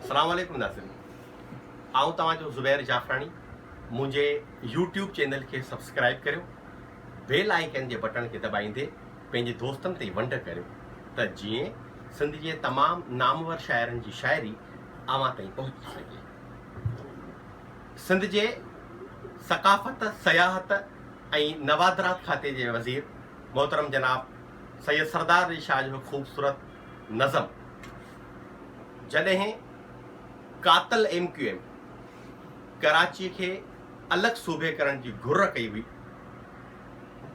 اسلام عليڪم ناظرين آئون توهان جو زبير جعفراڻي منهنجي يوٽيوب چينل کي سبسڪرائب ڪريو بيل آئيڪن جي بٽڻ کي دٻائيندي پنهنجي دوستن تي ونڊ ڪريو ته جيئن سنڌ جي تمام نامور شاعرن جي شاعري اوهان تائين پهچي سگهي سنڌ جي ثقافت سياحت ۽ نوادرات کاتي جي وزير محترم جناب سيد سردار علي شاهه جو خوبصورت نظم جڏهن قاتل ايم ڪيو ايم ڪراچي کي الڳ صوبي ڪرڻ جي گهر ڪئي هئي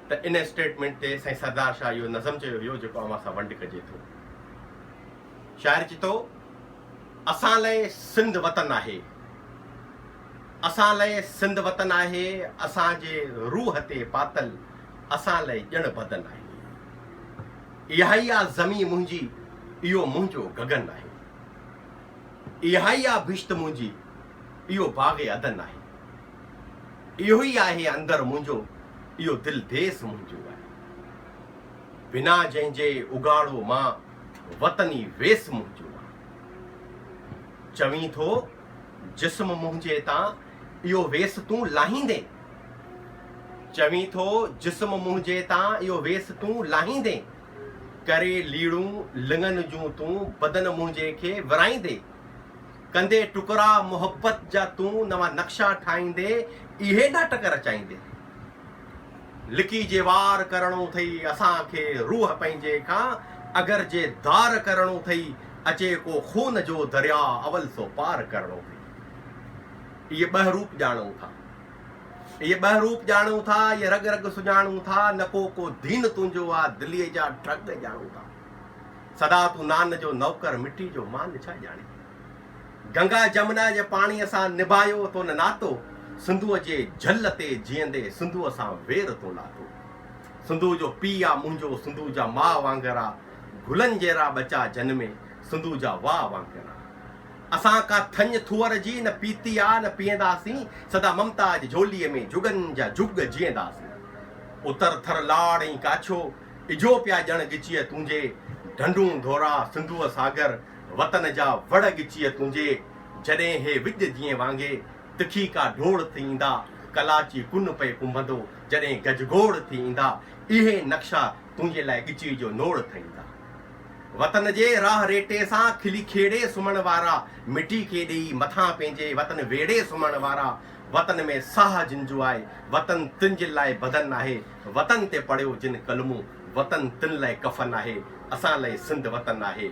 ته ان اسٽيٽمينٽ تي سائين سردار شاهه اهو نظم چيو هيو جيڪو اوهان سان ونڊ ڪجي ٿو. شاعر چي ٿو اسان لئه سنڌ وطن آهي اسان لئه سنڌ وطن آهي اسان جي روح تي پاتل اسان لئه ڄڻ بدن آهي. اهائي آ زمين منهنجي، اهو منهنجو گگن آهي. اهائي آ بھشت منهنجي، اهو باغ عدن آهي. اهوئي آهي اندر منهنجو، اهو دل ديس منهنجو آهي. بنا جنهن جي اگهاڙو مان، وطن ئي ويس منهنجو آهي. چوين ٿو جسم منهنجي تان اهو ويس تون لاهيندين؟ چوين ٿو جسم منهنجي تان اهو ويس تون لاهيندين؟ ڪري ليڙون لڱن جون تون بدن منهنجي کي ورائيندي؟ ڪندي ٽڪرا محبت جا تون نوان نقشا ٺاهيندي اهي ناٽڪ رچائيندي؟ لڪي جي وار ڪرڻو ٿئي اسان کي روح پنهنجي کان اگر جي ڌار ڪرڻو ٿئي اچي ڪو خون جو درياء اول سو پار ڪرڻو ٿئي اهي ٻه روپ ڄاڻون ٿا اهي ٻه روپ ڄاڻون ٿا اهي رڳ رڳ سڃاڻون ٿا نه ڪو ڪو دين تنهنجو آ دلي جا ڍڳ ڄاڻون ٿا سدا تون نان جو نوڪر مٽي جو مان ڇا ڄاڻي گنگا جمنا جي پاڻيء سان نڀايو تون ناتو، سنڌوء جي جهل تي جيئندي سنڌوء سان وير تون لاٿو. سنڌوء جو پيء آ منهنجو، سنڌوء جا ماء وانگر آ، گلن جهڙا ٻچا جنمي، سنڌوء جا واء وانگر آ. اسان ڪا ٿڃ ٿوئر جي نه پيتي آ نه پيئنداسين، سدا ممتا جي جهوليء ۾ جهڳن جا جهڳ جيئنداسين. اتر ٿر لاڙ ۽ ڪاڇو، اجهو پيا ڄڻ ڳچيء تنهنجي، ڍنڍون ڍورا، سنڌوء ساگر، وطن جا وڙ ڳچيء تنهنجي، جڏهن هي وڄ جيئن وانگي، تکي ڪا ڊوڙ ٿي ايندا، ڪلاچي ڪن پئي ڪنڀندو، جڏهن گجگوڙ ٿي ايندا، اهي نقشا تنهنجي لاء ڳچيء جو نوڙ ٿئي ايندا. وطن جي راهه ريٽي سان کلي کيڙي سمهڻ وارا، مٽي کي ڏيئي مٿان پنهنجي وطن ويڙهي سمهڻ وارا، وطن ۾ ساهه جن جو آهي، وطن تن جن لاء بدن آهي، وطن تي پڙهيو جن ڪلمون، وطن تن لئه ڪفن آهي، اسان لئه سنڌ وطن آهي.